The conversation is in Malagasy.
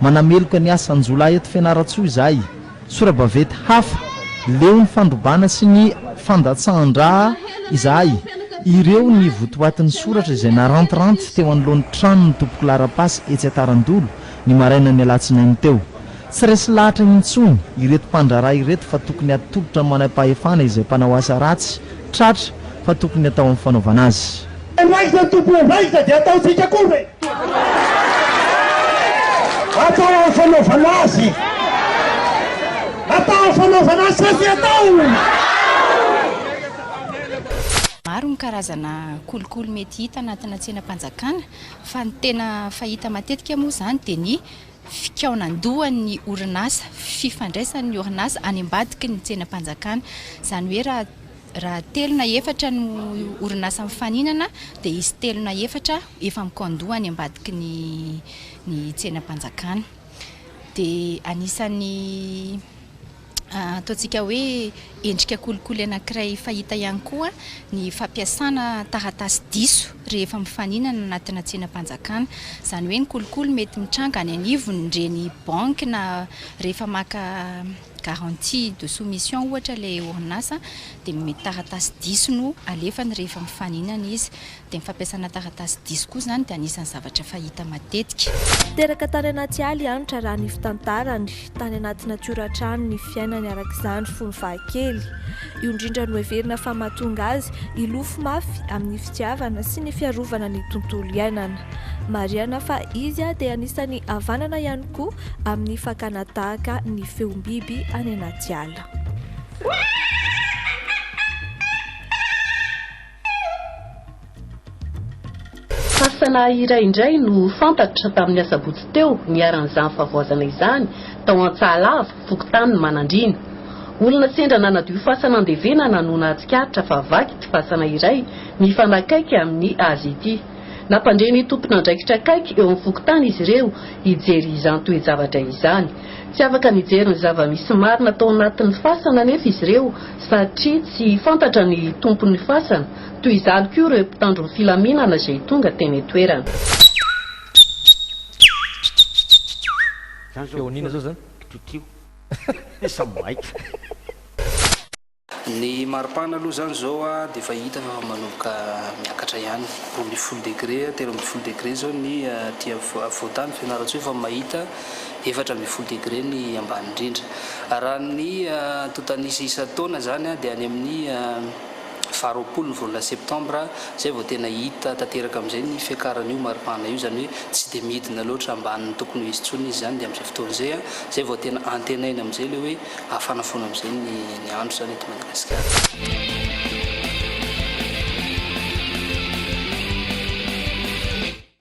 Manameloka ny asan-jiolahy eto Fianarantsoa izahay. Sora-baventy hafa, leo ny fandrobana sy ny fandatsahan-dra izahay. Ireo ny votoatin'ny soratra izay narantiranty teo anoloan'ny tranon'ny tompoko laharam-pasy etsy Antarandolo, ny marainan'ny alatsinainy teo. Tsy resy lahatra intsony ireto mpandraharaha ireto fa tokony hatolotra ny manampahefana izay mpanao asa ratsy tratra fa tokony atao amin'ny fanaovana azy. Any aiza ny tompo eo aiza dia ataontsika koa ve? Atao amin'ny fanaovana azy. Atao amin'ny fanaovana azy sa tsy atao? Maro ny karazana kolikoly mety hita anatina tsenam-panjakana fa ny tena fahita matetika moa izany dia ny fikaonan-dohan'ny orinasa, fifandraisan'ny orinasa any ambadiky ny tsenam-panjakana. Izany hoe raha. Raha telo na efatra no orinasa mifaninana dia izy telo na efatra efa mi-condo any ambadiky ny ny tsenam-panjakana. Dia anisan'ny ataontsika hoe endrika kolikoly anankiray fahita ihany koa ny fampiasana taratasy diso rehefa mifaninana anatina tsenam-panjakana. Izany hoe ny kolikoly mety mitranga any anivon'ireny banky na rehefa maka garantie de soumission ohatra ilay orinasa dia mety taratasy diso no alefany rehefa mifaninana izy dia ny fampiasana taratasy diso koa izany dia anisan'ny zavatra fahita matetika. Teraka tany anaty ala i Hanitra raha ny fitantarany, tany anaty natiora hatrany ny fiainany araka izany fony fahakely. Io indrindra no heverina fa mahatonga azy hilofo mafy amin'ny fitiavana sy ny fiarovana ny tontolo iainana. Marihana fa izy dia anisan'ny havanana ihany koa amin'ny fakana tahaka ny feom-biby any anaty ala. Fasana iray indray no fantatra tamin'ny asabotsy teo niharan'izany fahavoazana izany tao Antsahalava, fokontany Manandriana. Olona sendra nanadio fasana andevenana no nahatsikaritra fa vaky ity fasana iray mifanakaiky amin'ny azy ity. Nampandre ny tompon'andraikitra akaiky eo amin'ny fokontany izy ireo hijery izany toe-javatra izany. Tsy afaka nijery ny zava-misy marina tao anatin'ny fasana anefa izy ireo satria tsy fantatra ny tompon'ny fasana. Toy izany koa ireo mpitandro ny filaminana izay tonga teny an-toerana. Feon'inona zao zany? Ny maripana aloha izany izao dia efa hita fa efa manomboka miakatra ihany, roa ambin'ny folo degre, telo ambin'ny folo degre izao ny aty afovoan-tany Fianarantsoa efa mahita efatra ambin'ny folo degre ny ambany indrindra. Raha ny antontan'isa isan-taona izany dia any amin'ny faha roapolo ny volana septambra izay vao tena hita tanteraka amin'izay ny fiakaran'io maripana io, izany hoe tsy dia midina loatra ambany ny tokony ho izy intsony izy izany dia amin'izay fotoana izay izay vao tena antenaina amin'izay ilay hoe Hafana foana amin'izay ny ny andro izany eto Madagasikara.